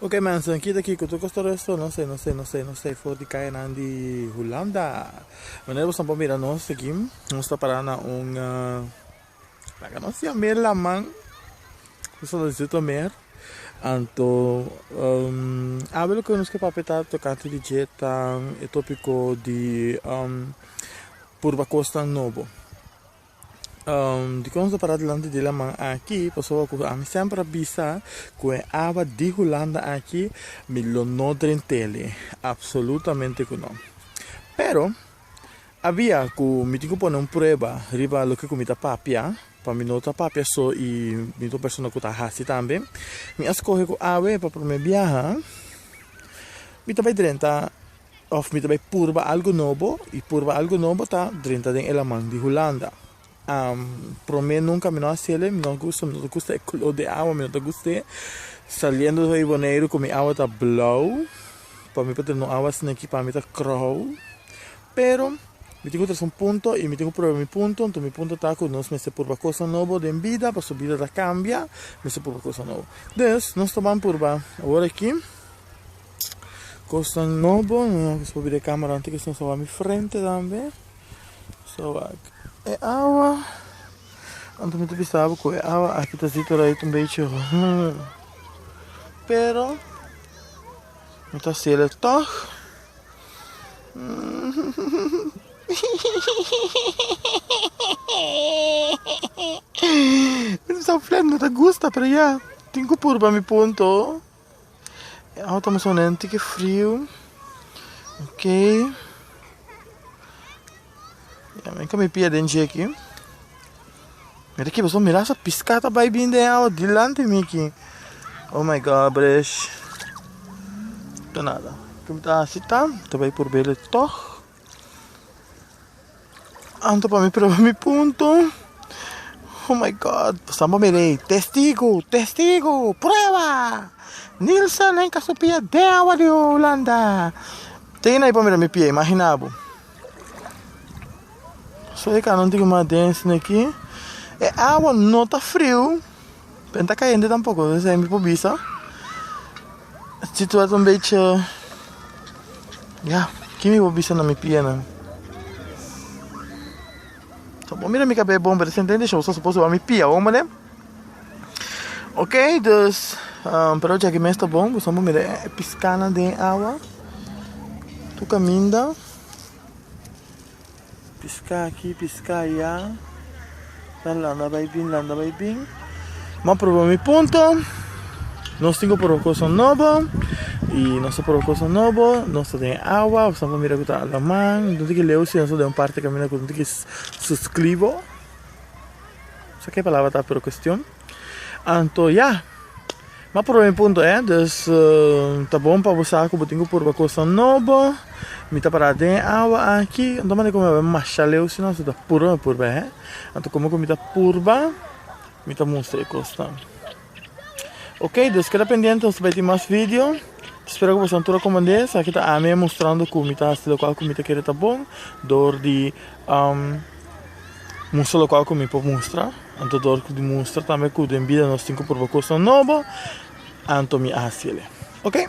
Ok mensen, kita kiko tur costor esto, no sai, no sai, no sai, no sai for di cayanan di Hulanda. Manera boso por mira nos aki, nos ta para na un, laga nos ya mer laman, boso lo diciendo mer, anto awe loke nos ke papia ta tocante di dje ta e topico di purba cosnan nobo. Dikon nos a para dilanti di laman aki? Pasobra ku ami semper a bisa ku e awa di Hulanda aki mi lo no drent'el. Apsolutamente ku no. Pero, a bia ku mi tin ku pone un prueba riba loke ku mi ta papia, pa mi no ta papia so i mi ta un persona ku ta hasi tambe, mi a skohe ku awe pa promé biaha mi ta bai drenta. Of mi ta bai purba algu nobo y purba algu nobo ta drenta den e laman di Hulanda. Prome nunca mi no a haciele, mi no a gusta, mi no ta gusta e color di awa, mi no ta gust'e saliendo di Boneiru cu mi awa ta blauw, pa mi pa drenta un awa asina aki pa mi ta crouw, pero mi tin cu trece un punto y mi tin cu prueba mi punto, enton mi punto ta cu nos mester purba cosa nobo den bida pasobra bida ta cambia, mester purba cosa nobo. Des nos ta ban purba aworaki. Cosnan nobo no kiss pa bira e camera anto kiss no sa wak mi frente tambe no sa wak e awa anto mi ta bisa bo cu e awa aki ta zit orait un bechi roo pero mi ta sele toch mi ta bisa flat mi no ta gusta pero ya tin cu purba mi punto. E auto mester una ntiki friu ok ya mi kami pia den dje aki mi ta kiba so mira asa piska ta bai bin den e awa dilanti mi aki oh my god bresh ta nada tum ta hasi ta ta bai probele tog. Anto pa mi proba mi punto oh my God pastan pa mi rei testigo testigo prueba Nilsa nen ka sopia den awa di Hulanda tin ahi pa mira mi pie imagina bo so e kano tin ki mas den sino aki e awa no ta frio Benta cayente tampoco lo esey mi por bisa situa ta un beetje ya ki mi por bisa na mi pienan so bo mira mi cabal e bomber sente den show so suppose mi pia awor mane ok dus pero jaki mes ta bon boso bo mira e piscana den awa tu caminda. Piská akí, piská ayá. Nan landa bai bin, landa bai bin. M'a proba mi punto. Nos tin ku proba kosa nobo. I nos ta proba kosa nobo. Nos ta den e awa. Nos ta mira ku ta alaman. Dónde ta ke leu si nos ta den un parti kaminda ku no tin ke suskribo? Sa ke palabra ta pero kuestion? Anto ya. Ma proba mi punto eh, dus ta bon pa bo sa ku bo tin ku purba kosnan nobo. Mi ta para den e awa aki, anto manera ku mi bai masha leu si no si ta purba mi purba eh. Anto komo ku mi ta purba mi ta mustra e kosnan. Ok, dus keda pendiente nos ta bai tin mas video. Ta spera ku boso antura komand'é. Esaki ta ami e mustrando ku mi ta hasi lokual ku mi ta kere ta bon dor di. Mustra lokal ku mi por mustra, anto dor ku di mustra tambe ku den bida nos tin ku pruba kosnan nobo, anto mi hasi el. Oke.